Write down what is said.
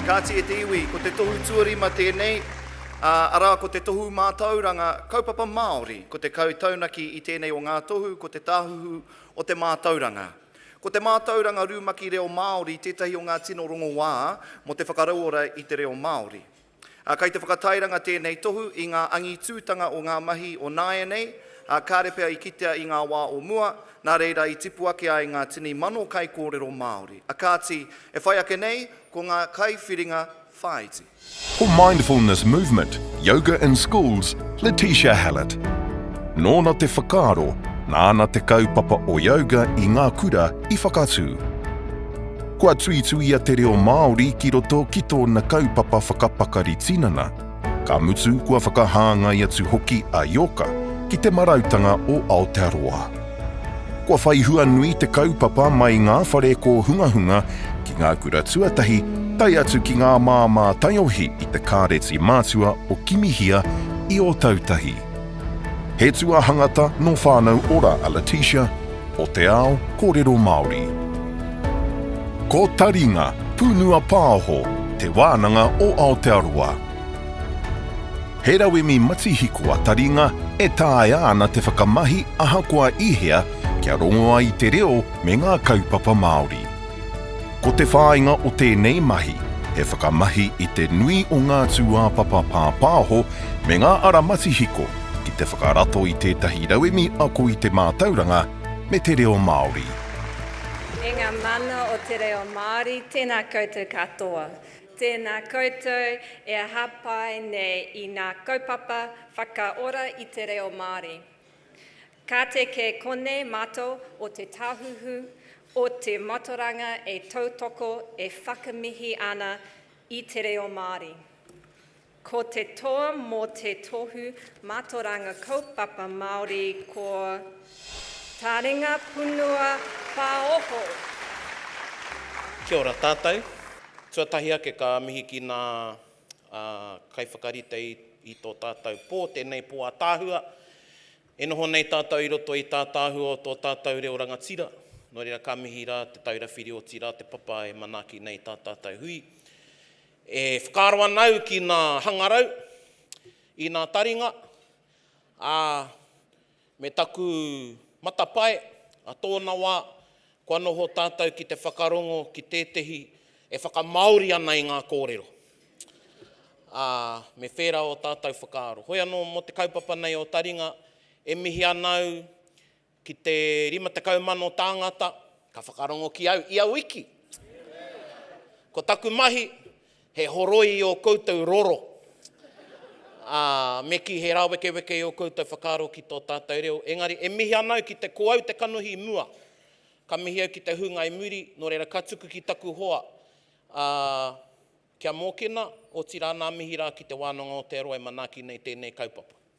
Kāti e te iwi, ko te tohu tuarima tēnei, ā, arā ko te tohu mātauranga Kaupapa Māori, ko te kau taunaki i tēnei o ngā tohu ko te tāhuhu o te mātauranga. Ko te mātauranga rumaki reo Māori tētahi o ngā tino rongowā mō te whakarauora i te reo Māori. Ā, kei te whakatairanga tēnei tohu i ngā angitūtanga o ngā mahi o nāianei, ā, kāre pea i kitea i ngā wā o mua, nā reira i tipu ake ai ngā tini mano kaikōrero Māori. A kāti, e whai ake nei, ko ngā kaiwhiringa whāiti. Ko Mindfulness Movement, Yoga in Schools, Letitia Hallett. Nōna te whakaaro, nāna te kaupapa o yoga i ngā kura i whakatū. Kua tuituia te reo Māori ki roto ki tōna kaupapa whakapakari tinana, ka mutu kua whakahāngai atu hoki a Ioka ki Te Marautanga o Aotearoa. Kua whai hua nui te kaupapa mai ngā whare kōhungahunga ki ngā kura tuatahi tae atu ki ngā māmā taiohi i te Kāreti Matua o Kimihia i Ōtautahi. He tuahangata no Whanau Ora a Letitia, o te ao korero Maori. Ko Taringa, Punua Paoho, te wananga o Aotearoa. He rauemi matihiko a Taringa e taea ana te whakamahi ahakoa i hea kia rongo ai te reo me nga kaupapa Maori. Ko te whāinga o tēnei mahi, he whakamahi i te nui o ngā tūāpapa pāpāho me ngā ara matihiko ki te whakarato i tētahi rauemi ako i te mātauranga me te reo Māori. E ngā mana o te reo Māori, tēnā koutou katoa. Tēnā koutou e hāpai nei i ngā kaupapa whakaora i te reo Māori. Ka te kē konei mātou o Te Tāhuhu o te Matoranga e tautoko e whakamihi ana i te reo Māori. Ko te toa mō te Tohu Matoranga Kaupapa Māori ko Taringa Punua Pāoho. Kia ora tātou. Tuatahi ake ka mihi ki nā kaiwhakarite i tō tātou pō, tēnei pō ātaahua. E noho nei tātou i roto i tātāhua o tō tātou reo rangatira, nō reira ka mihi rā Te Taura Whiri otirā te papa e manaaki nei tā tātou hui. E whakaaro ana au ki nā hangarau, i nā taringa, ā, me taku matapae, ā tōna wā, Kua noho tātou ki te whakarongo ki tētehi e whakamāori ana i ngā kōrero, ā, me whērā ō tātou whakaaro. Hoi anō mō te kaupapa nei o Taringa, e mihi ana au ki te 50,000 tāngata ka whakarongo ki au ia wiki. Ko taku mahi, He horoi ō koutou roro, ā, me kī he rāwekeweke ō koutou whakaaro ki tō tātou reo. Engari, e mihi ana au ki te ko au te kanohi i mua. Ka mihi au ki te hunga i muri, nō reira ka tuku ki taku hoa, ā, kia mōkena, otirā nā mihi rā ki te wānanga o te Aroha e manaaki nei tēnei kaupapa.